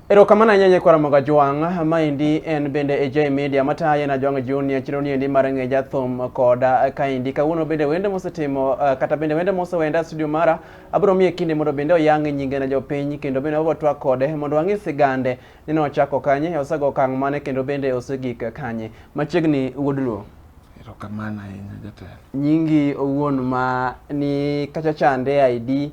Erokamano ahinya nyakwara moga jwang'. Maendi en bende AJ Media mataye na Jwang' Junior chiro niendi mar ng'e jathum koda kaendi. Kawuono bende wende mosetimo uh, kata bende wende mosewenda e studio mara abiro miye kinde mondo bende oyang' nyinge na jopiny kendo bende wabiro twak kode mondo wang'e sigande ni nochako kanye, osego okang' mane kendo bende osegik kanye. Machiegni wuod Luo. Erokamano ahinya jatelo. Nyingi owuon ma ni kacha chande ID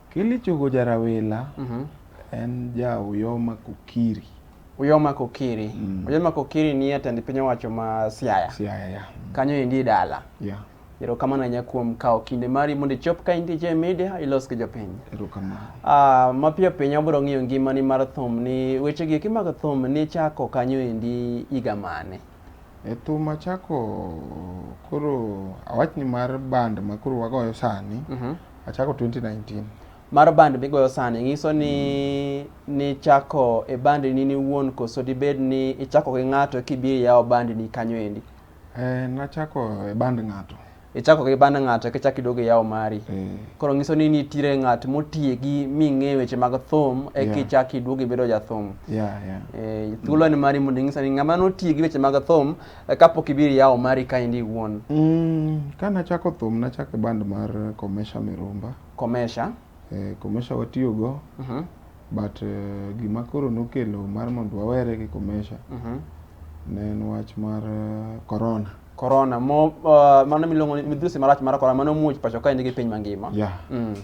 Kili Chogo Jarawila mm -hmm. en ja Uyoma Kokiri. Uyoma Kokiri. Mm. Uyoma Kokiri ni jatend piny owacho ma Siaya. Siaya, yeah. Mm. Kanyo endi e dala. Yeah. Erokamano ahinya kuom kawo kinde mari mondo ichop ka intie e media ilos gi jopiny. Erokamano. Ah, mapiyo piyo abiro ng'iyo ngimani mar thum ni weche gi mag thum ni chako kanyo endi higa mane? E thum achako koro awachni mar band ma koro wagoyo sani. Mm -hmm. Achako 2019. Mar band migoyo sani nyiso ni nichako e band ni niwuon koso dibed ni ichako gi ng'ato kibiro yawo band ni kanyo endi? Eh, nachako e band ng'ato. Ichako gi band ng'ato kichak iduogo iyawo mari. Eh, Koro nyiso ni nitiere ng'at motiegi ming'eyo weche mag thum e Yeah. kichak iduogo ibedo jathum. yeah, yeah. Eh, thuolo en mari mondo inyisa ni ng'ama notiegi weche mag thum Eh, kapok ibiro yawo mari kaendi iwuon? Mm, ka nachako thum nachako e band mar Komesha Mirumba. Komesha? Eh, Komesha watiyogo uh mhm. -huh. but uh, gima koro nokelo mar mondo wawere gi Komesha uh mhm. -huh. ne en wach mar uh, corona corona mo uh, mano miluongo ni midhusi marach mar corona mano muoch pacho kaendi gi piny mangima yeah. mm.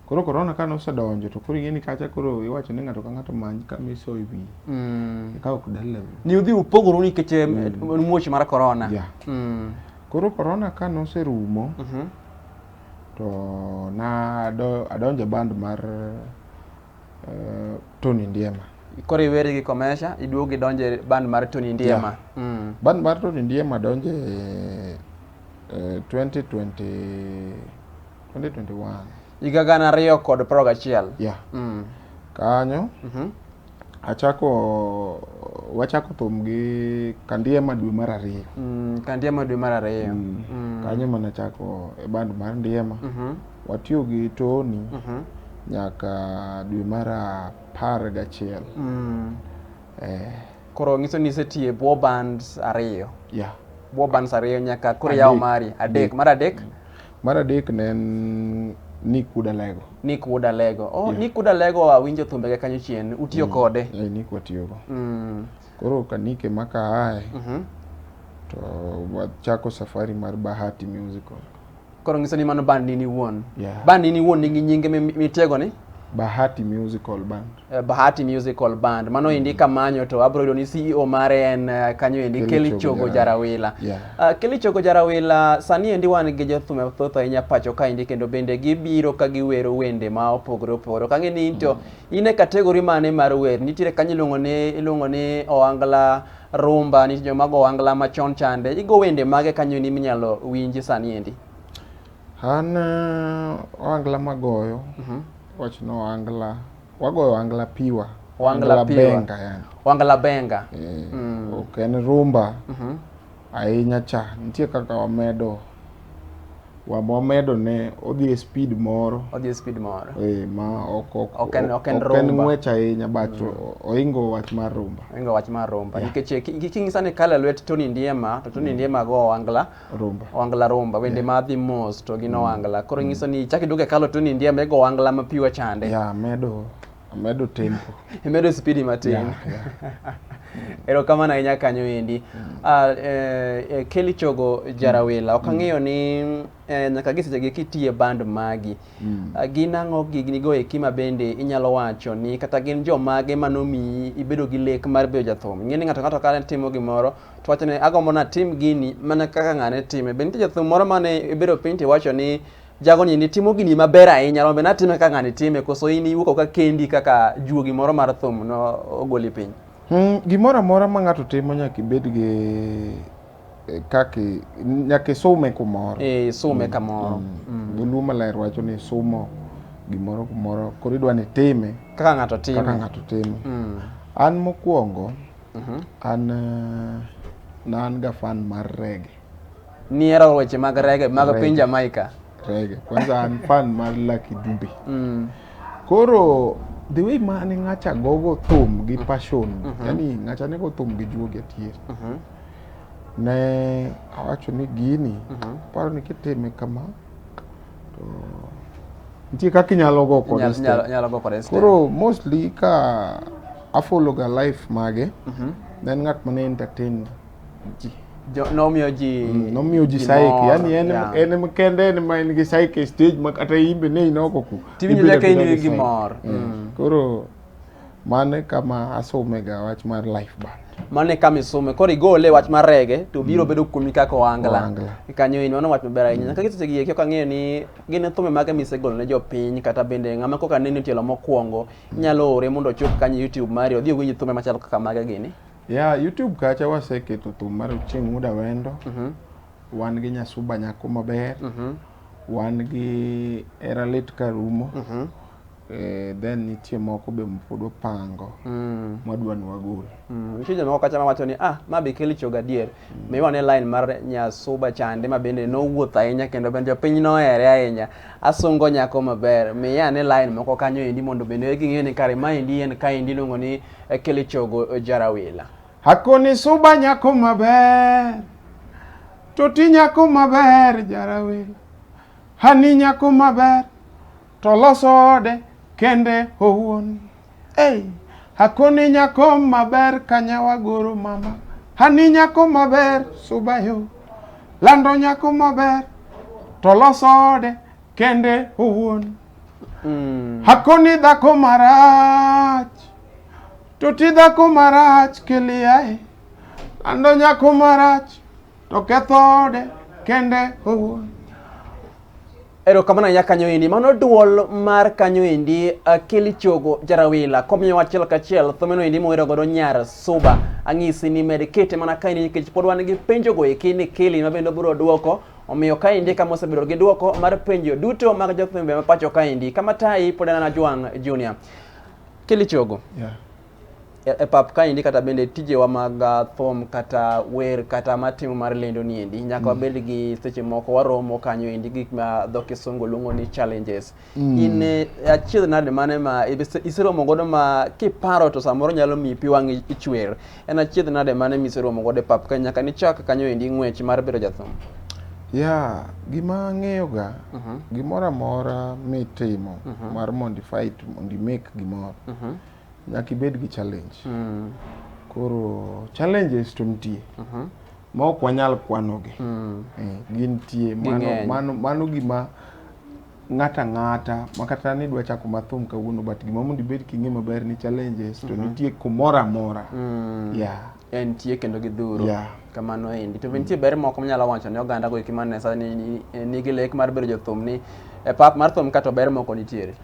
Koro korona ka nosedonjo to koro ing'eni kacha koro iwacho ni ng'ato ka ng'ato many kama iso e wiye. Mm. Eka ok dalew. Ni udhi upogoru nikech eh, mm. muoch mar korona. Yeah. Mm. Koro korona ka noserumo mm -hmm. to na adonjo e band mar uh, Tony Ndiema. Koro iweri gi Komesha, iduogo idonjo e band mar Tony Ndiema. Yeah. Mm. Band mar Tony Ndiema donjo e uh, 2020 2021. Higa gana ariyo kod piero gachiel. Yeah. Mm. Kanyo. Mm -hmm. Achako wachako thum gi Kandiema dwe mar ariyo. Mm, Kandiema dwe mar ariyo. Mm. Mm. Kanyo mana chako e band mar Ndiema. Mm -hmm. Watiyo gi Tony. Mm -hmm. Nyaka dwe mar apar gachiel. Mm. Eh. Koro ngiso ni isetiyo e bwo bands ariyo. Yeah. Bwo bands ariyo nyaka koro yawo mari adek. Mar adek. Mm. Mar adek ne en Nick Wood Alego. Nick Wood Alego. Oh, yeah. Nick Wood Alego awinjo thumbege kanyo chien. Utiyo mm. kode? Eh, yeah, Nick watiyogo. Mm. Koro ka Nick ema ka aye, mm -hmm. to wachako safari mar Bahati Musical. Koro ngiso ni mano band nini wuon? Yeah. Band nini wuon nigi nyinge mitiego ni? Bahati Musical Band. Eh, Bahati Musical Band. Mano mm. endi kamanyo to abro yudo ni CEO mare en eh, kanyo endi Kelly Chogo Jarawila. Yeah. Uh, Kelly Chogo Jarawila sani endi wan gi jothum thoth ahinya pacho ka endi kendo bende gibiro ka giwero wende ma opogore opogore. Kang'e ni into mm. in e kategori mane mar wer? Nitiere kanyo iluongo ni iluongo ni Oangla Rumba, nitie joma go Oangla machon chande. Igo wende mage kanyo ni minyalo winji sani endi? An uh, Oangla magoyo. Mm -hmm. Wach no wangla. Wagoyo wangla piwa. Wangla piwa. benga yani. Wangla benga. Eh, mm. Ok en rumba. Mhm. Mm ahinya cha. Nitie kaka wamedo wamedo ne odhi e speed moro odhi e speed moro eh ma ok ok ok en ok en rumba ok en ng'wech ahinya but mm. oingo wach mar rumba oingo wach mar rumba nikech yeah. kinyisa ni kala lwet Tony Ndiema to Tony mm. Ndiema go angla Rumba. owangla rumba wende ma dhi mos to gin owangla koro nyiso ni chak iduogo e kalo to ni ndiema ego owangla ma piwa chande Ya, amedo amedo tempo. imedo spidi matin Yeah, yeah. erokamano ahinya kanyo endi Ah, eh, eh, Kelly Chogo Jarawila ok ang'eyo ni eh, nyaka gi sechegi kitiye band magi Ah, gin ang'o gignigo eki ma bende inyalo wacho ni kata gin jomage manomiyi ibedo gi lek mar bedo jathum ing'e ni ng'ato ng'ato ka timo gimoro to wacho ni agombo natim gini mana kaka ng'ane time. Be nitie jathum moro mane ibedo piny to iwacho ni jagoni ni timo gini maber ahinya rombe natime kaka ng'ane time koso in iwuok ka kendi kaka juogi moro mar thum no ogoli piny? Hmm, gimoro amora ma ng'ato timo nyaka ibed gi eh, kaki nyaka isume kumoro. Eh, isume hmm, kamoro. Hmm. hmm. Dholuo maler wacho ni sumo gimoro kumoro koro idwa ni time kaka ng'ato time. Kaka ng'ato time. Hmm. An mokwongo Mhm. An eh, na an ga fan mar rege. Nihero weche mag rege mag Reggae. piny Jamaica. Rege. Kwanza an fan mar Lucky Dube. Mm. Koro the way ma ne ng'acha gogo thum gi passion, yani ng'acha ne go thum gi juogi atier. Mhm. Ne awacho ni gini, Mhm. paro ni kitime kama, to nitie kaka inyalo go kode Inyalo- step. inyalo- inyalo go kode step. koro mostly ka afollow ga life mage Mhm. ne en ng'at mane entertain ji Jo- nomiyo ji nomiyo ji saik mor, yani en yeah. en em kende en ma en gi saik e stage ma kata imbe ne inoko ku Tiwinjo ibedo nyaka in abeda gi gi saik. mor. Mm. koro Mane kama asome ga wach mar life band. Mano e kama isome. Koro igole wach mar rege to biro bedo kuomi kaka ohangla. Ohangla. Kanyo in mano wach maber ahinya. Nyaka kiseche gi kaka ang'eyo ni gin thumbe mage misegolo ne jopiny kata bende ng'ama koka neno tielo mokwongo inyalo ore mondo ochop kanyo YouTube mari odhi owinj thumbe machalo kaka mage gini. Ya YouTube kacha waseketo thum mar Ochieng' Muda Wendo. Wan gi Nyasuba Nyako Maber. Wan gi Era Lit Karumo. Eh, then nitie moko be mapod wapango mm. mwadwa ni wagol. Mm. Nitie jomoko kacha mawacho ni ah, ma be keli choga adier. Mm. Maybe wane line mar Nyasuba chande ma bende nowuoth ahinya kendo bende jopiny nohere ahinya. Asungo nyako maber. Miya ane line moko kanyo endi mondo bende ging'e ni kare ma endi en ka endi iluongo ni eh, keli chogo eh, jarawila. Hakoni suba nyako maber. Toti nyako maber jarawila. Hani nyako maber. To losode kende owuon. Ei, hakoni nyako maber kanyawa goro mama. Hani nyako maber subayo. Lando nyako maber to losode kende owuon. Mm. Hakoni dhako marach to ti dhako marach kiliae. Lando nyako marach To kethode kende owuon. Erokamano ya kanyo endi. Mano duol mar kanyo endi Akili Chogo Jarawila. Komiyo wachiel kachiel thumeno endi mowero godo Nyar Suba. Ang'isi ni med kete mana kaendi nikech pod wan gi penjo go eki ni Kili ma bende biro duoko. Omiyo kaendi kama osebedo gi duoko mar penjo duto mag jothumbe ma pacho kaendi. Kama tayi pod en Ajwang' Junior. Kili Chogo. Yeah. e, e pap kaendi kata bende tijewa mag uh, thom kata wer kata matimo mar lendo ni endi nyaka mm. wabed mm. gi seche moko waromo kanyo endi gik ma dho kisungu luongo ni challenges mm. in eh, achiedh nade mane ma iseromo godo ma kiparo to samoro nyalo miyi pi wang' ichwer en achiedh nade mane ma iseromo godo e pap ka nyaka nichak kanyo endi ng'wech mar bedo jathum ya gima ang'eyoga uh mhm. -huh. gimoro amora mitimo uh mhm. -huh. mar modified mondi make gimoro uh mhm. -huh Nyaka ibed gi challenge. Mm. Koro challenges to nitie. Uh mhm. -huh. Ma ok wanyal kwanogi. Mm. Eh, gintie. Mano, mano, mano gima ng'ata ng'ata makata ni dwa chako mathum kawuono but gima mondo ibed king'e maber ni challenges to mm -hmm. nitie kumoro amora mm. yeah. entie kendo gidhuro yeah. kamano endi to be nitie ber moko manyalo wacho ne oganda go eki mane sani nigi lek mar bedo jothum ni e pap mar thum kato ber moko nitiere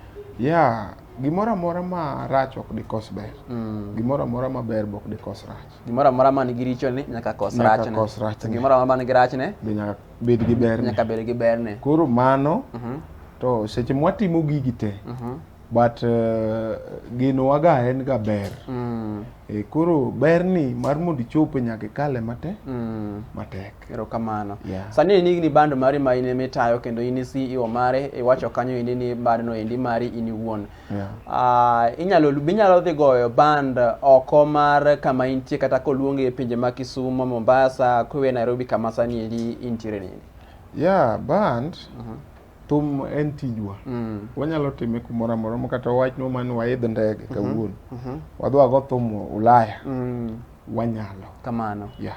yeah Gimoro amora ma rach ok dikos ber. Mm. Gimoro amora ma ber be ok dikos rach. Gimoro amora ma nigi richo ni nyaka kos Nyaka rachne. kos rachne. To Gimoro amora ma nigi rachne Be nyaka bed gi berne. nyaka bed gi berne. Koro mano Mhm, to seche mwatimo gigi te mhm, but uh, genowaga en ga ber. mm, E, koro berni mar mondo ichope nyaka ikale mate mm. matek. Erokamano. Yeah. Sani in igni band mari ma in ema itayo kendo in CEO mare iwacho kanyo endi ni band no endi mari in iwuon. Yeah. Ah, inyalo be inyalo dhi goyo band oko mar kama intie kata koluongi e pinje ma Kisumo, Mombasa, kuwe Nairobi kama sani endi intiere ni. Yeah, band thum en tijwa. Mm. Wanyalo time kumoro amora ma kata wawachnwa mani waidh ndege kawuono. Wadhi wago thum Ulaya. Mm. Wanyalo. Kamano. Yeah.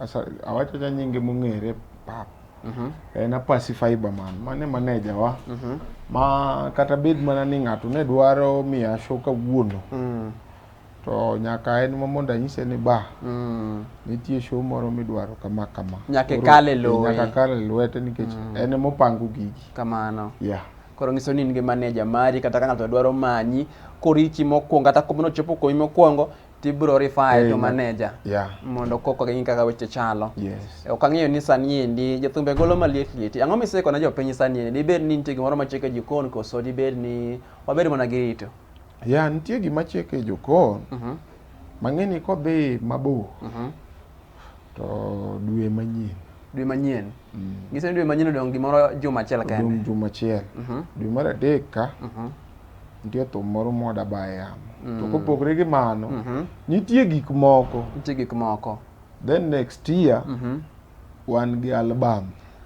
Asa, awacho cha nyinge mong'ere pap mm -hmm. en Apasi Fiberman mane maneja wa mm -hmm. ma kata bed mana ni ng'ato ne dwaro miya show kawuono mm. to nyaka en ma mondo anyise ni ba mm. nitie show moro midwaro kama kama nyaka kale lowe nyaka kale lwete nikech mm. en mopango gigi kamano yeah koro ngiso ni in gi maneja mari kata ka ng'ato dwaro manyi korichi mokwongo kata komono chopo komi mokwongo tibro rifae eh, to maneja yeah. mondo koko gi kaka weche chalo yes. ok ang'eyo ni sani endi jothumbe golo maliet lieti ang'o miseko na jopiny sani endi dibed ni nitie gimoro machiek e jokon koso dibed ni wabed mana gi rito ya nitie gima chiek e jokon uh mhm. -huh. mang'eni kodhi mabor uh mhm. -huh. to dwe manyien dwe manyien mm. giseni dwe manyien odong' gimoro juma achiel kende odong' juma achiel uh mhm. -huh. dwe mar adek ka uh -huh. nitie thum moro mwada ba e yamo mm. to kopogre gi mano mm -hmm. nitie gik moko nitie gik moko then next year mm -hmm. wan gi album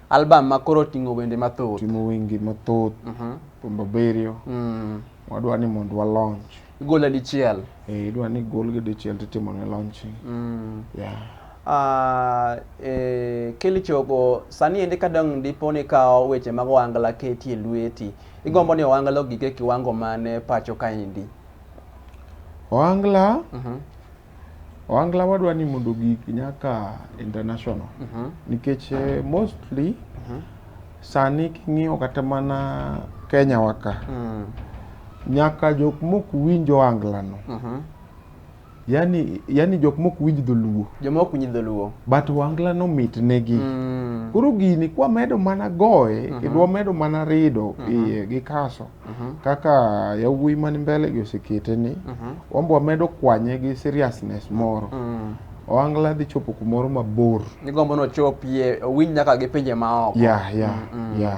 album ma koro ting'o wende mathoth ting'o wende mathoth mm -hmm. thumbe abiriyo mm. wadwa ni mondo wa launch igole dichiel eh idwa ni gol gi dichiel titimo ne launching mm. yeah Uh, eh, Kelly Chogo, sani ende kadang' dipo ni kawo weche mag wangla keti e lweti Igombo ni Owangla ogik e kiwango mane pacho kaendi? Owangla, mhm. Owangla wadwa ni mondo ogik nyaka international mhm. nikech eh, mostly mhm. sani king'iyo kata mana Kenya waka mm. nyaka jok mok winjo Owanglano mm -hmm. yani yani jok mok winj dholuo joma ok winj dholuo but wangla no mit negi Mm. koro gini kwa medo mana goye kendo wamedo mana rido iye gi kaso kaka yawuoyi man mbele gi osekete ni wambo wamedo kwanye gi seriousness moro Mm. wangla dhi chopo kumoro mabor Nigombo nochopie owinj nyaka gi pinje maoko. ya ya ya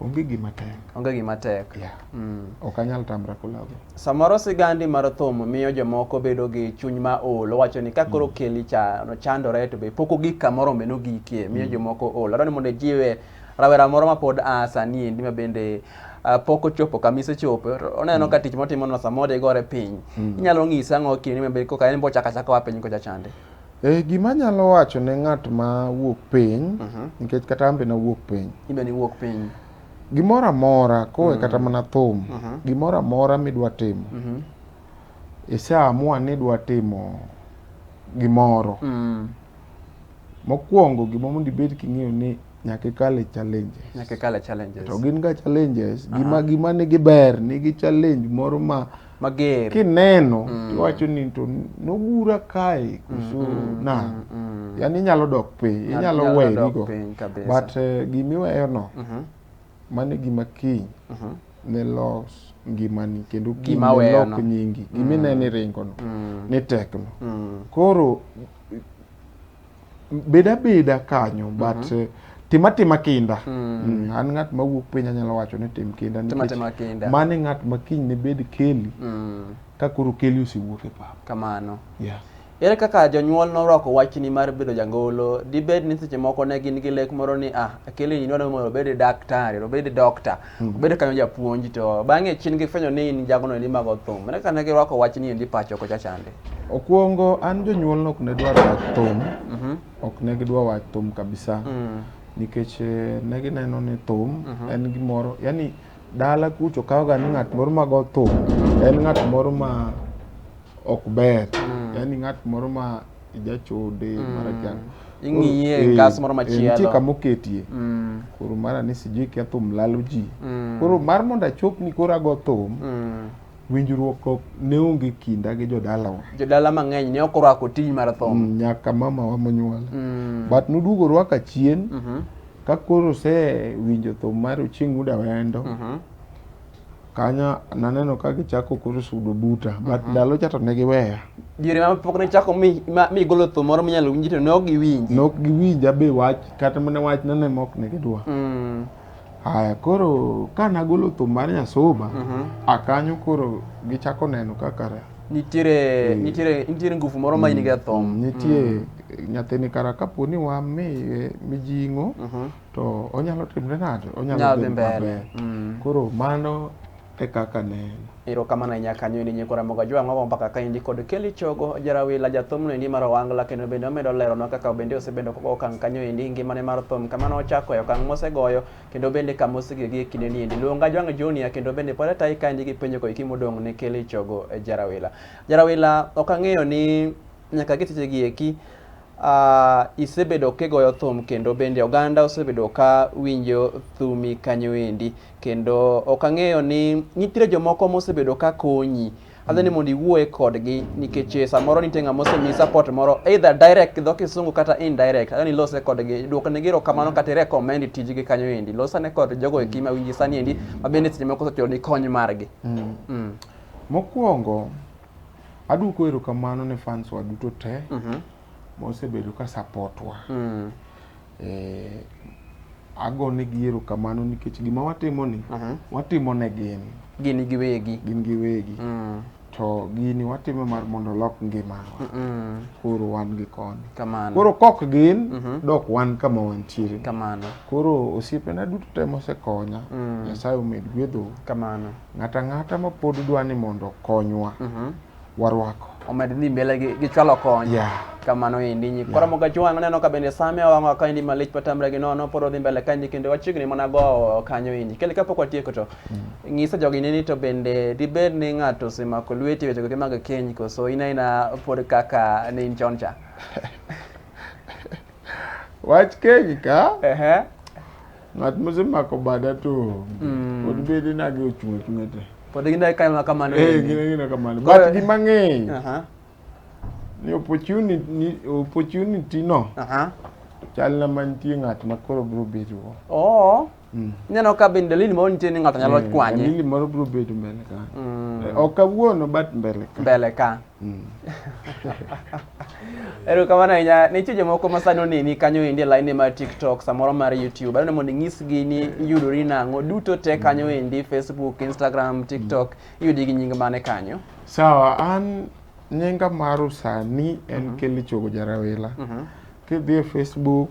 Onge gima tek. Onge gima tek. Yeah. Mm. Ok anyal tamra kulago. Samoro sigandi mar thum miyo jomoko bedo gi chuny ma ol. Owacho ni ka koro mm. keli cha, no chandore to be poko gik kamoro meno gikie miyo mm. jomoko ol. Adwaro ni mondo jiwe rawera moro ma pod a sani endi ma bende uh, pok ochopo kama isechopo oneno mm. ka tich motimono samoro igore piny mm. inyalo ng'ise ang'o kinde ma bende koka en bochako achaka wa piny kocha chande Eh, gima anyalo wacho ne ng'at ma wuok piny nikech kata an be nawuok piny Ibe ni wuok piny. gimoro amora kowe kata mana thum gimoro amora midwa timo iseamua ni idwa timo gimoro Mm. mokwongo gima mondo ibed king'eyo ni nyaka ikal e challenges Nyaka kale challenges. to gin ga challenges gima gima nigi ber nigi challenge moro ma mager kineno mm. tiwacho ni to nogura kae kuso mm, mm, na mm, mm. yani inyalo dok piny inyalo werigo but uh, eh, gimiweyono mm -hmm. mano gima kiny mm -hmm. ne los ngimani kendo gimilok nyingi gimineni mm. ringono mm. ni tekno mm. koro bed abeda kanyo mhm. but mm -hmm. tim atima kinda mm. Mm. an ng'at ma wuok piny anyalo wacho ni tim kinda nikech mano e ng'at ma kiny ne bed keli mm. ka koro keli osewuok e pap kamano yeah. ere kaka jonyuol norwako wachni mar bedo jangolo dibed ni seche moko ne gin gi lek moro ni ah keli ni dwani mondo obed daktari obed dokta Bedo kanyo japuonj to bang'e chien gifwenyo ni in jagono ni mago thum. Mane kane girwako wach ni endi pacho kocha chande. Okuongo an jonyuol ok ne dwar wach thum. Mhm. Ok ne gidwa wach thum kabisa. Mm. Nikech eh, ne gineno ni thum Mhm. en gimoro yani dala kucho kawoga ni ng'at moro mago thum en ng'at moro ma ok ber. Mm. Yani ng'at moro ma ijachode mm. mara chang ing'iye e ngas moro machielo nitie kama oketie mm. koro mara ni sijui kia thum lalo ji mm. koro mar mondo achop ni koro ago thum mm. winjruok ok ne onge kinda gi jodalawa jodala mang'eny ne ok orwako tij mar thum mm, nyaka mamawa monyuola mm. but noduogo rwaka chien mm -hmm. ka koro se winjo thum mar ochieng' uda wendo mm -hmm. Kanyo naneno ka gichako koro sudo buta, but mhm. ndalo cha to ne giweya. Diere ma pok ne chako mi ma mi golo thum moro minyalo winji to ne ok giwinji. Ne ok giwinja be wach kata mana wach nene mok ne gidwa. Mm. Haya koro ka nagolo thum mar Nyasoba, mhm. akanyo koro gichako neno kaka nitiere mm. nitiere nitiere nguvu moro ma in mm. go e thum mm. nitie mm. nyathini kara kapo ni wamiye mijing'o mm -hmm. to onyalo timre nade onyalo dhi mbele mm. koro mano e kaka neno iro kama na nyaka nyo ni nyikora moga jwa ngogo mpaka ka indi kod keli chogo jarawi la jathum ni maro wangla kendo bende omedo lero no kaka bende osebedo koko kan kanyo indi ngima ne mar thum kama no chako yo kan mose goyo kendo bende kama osige gi kinde ni indi luonga jwa junior kendo bende pore tai ka indi gi penjo ko ikimo dong ne keli chogo e jarawi la jarawi la okang'eyo ni nyaka gitiche gi eki Uh, isebedo kigoyo thum kendo bende oganda osebedo ka winjo thumi kanyo endi kendo ok ang'eyo ni nitiere jomoko mosebedo ka konyi adhi ni mondo iwuoye kodgi nikech eh, samoro nitie ng'ama osemi support moro either direct gi dho kisungu kata indirect adhi ni lose kodgi duokne gi erokamano kata recommend tijgi kanyo endi losane kod jogo eki mawinji sani endi ma bende seche moko osechulo ni kony margi Mm. Mm. Mokwongo, Aduoko erokamano ne fans wa duto te mm -hmm. mosebedo ka support wa mm. eh, ago negi erokamano nikech gima watimo ni mm -hmm. watimo ne gin gini giwegi gin giwegi mm. to gini watimo mar mondo lok ngimawa mm -mm. koro wan gi koni kamano koro kok gin mm -hmm. dok wan kama wantiere kamano koro osiepena duto te mosekonya mm. nyasaye mm. omed gwedho kamano Ng'ata ng'ata ma pod dwa ni mondo okonywa, Mhm. warwako. omed dhi mbele gi, gi chwalo kony Yeah. kamano endi nyi kora moga jwang neno ka bende same wang'o ka endi malich patamre gi nono pod odhi mbele ka endi kendo wachiegni mana go kanyo endi kele kapok watieko to ng'isa jogi ni ni to bende dibed ni ng'ato osemako lweti wechego gi mag keny koso in aina pod kaka ne in chon cha Wach keny ka, Ehe. Ng'at mosemako bada to mm. pod bede nage ochung' achung'a te. Pod gindae kae kamano. Eh, gindae kamano. But gi mang'eny. Aha. Ni opportunity ni opportunity no. Aha. Chal na mantie ng'at ma koro bro bedo. Oh. Mm. Neno ka bin dalili moro nitie ni ng'ato nyalo eh, kwanye. Dalili moro bro bedo mbele ka. Mm. Eh, ok awuono but mbele ka. Mbele ka. Mm. erokamano ahinya nitie jomoko ma sani oneni kanyo endi e laini mar tiktok samoro mar youtube aneno mondo inyisgi ni iyudori nang'o duto te kanyo endi facebook instagram tiktok iyudi gi nying mane kanyo sawa an nyinga maru sani en mhm. kelly chogo jarawila mhm. kidhi e facebook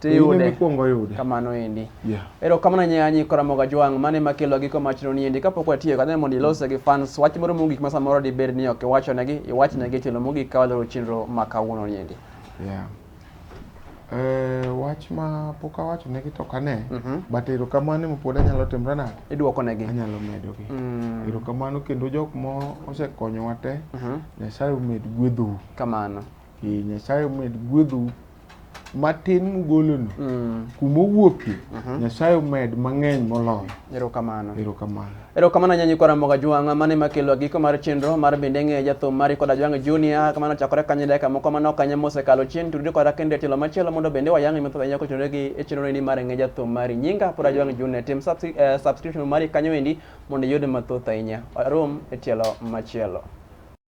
tiyude mikwongo yude kamano endi yeah. ero kamano nyanyi koramoga jwang' mane makelo giko machno ni endi kapok watiyo kadhane mondo ilose gi fans wach moro mogik ma samoro dibed ni ok iwachonegi iwachnegi tielo mogik ka waloro chenro ma kawuono ni endi yeah. Eh, wach ma pok awacho negi to kane mm -hmm. but erokamano ema pod anyalo timre nade iduoko negi anyalo medogi mm. erokamano kendo jok ma osekonyowa te mm -hmm. nyasaye omed gwedhou kamano Ee, Nyasaye omed gwedhou matin mugolono mm. kuma owuokie mhm. Nyasaye omed mang'eny moloyo. Erokamano. Erokamano. Erokamano nyanyi kwa Ramoga Jwang' mane makelo giko mar chenro mar bende ng'e jathum mari koda Jwang' Junior kamano chakore kanye dakika moko mano kanye mosekalo chien tudri koda kendo tielo machielo mondo bende wayang'e mathoth ahinya kochunore gi e chenro ni mar ng'e jathum mari nyinga poda Jwang' Junior tim eh, subscription mari kanyo endi mondo iyud mathoth ahinya. Arom e tielo machielo.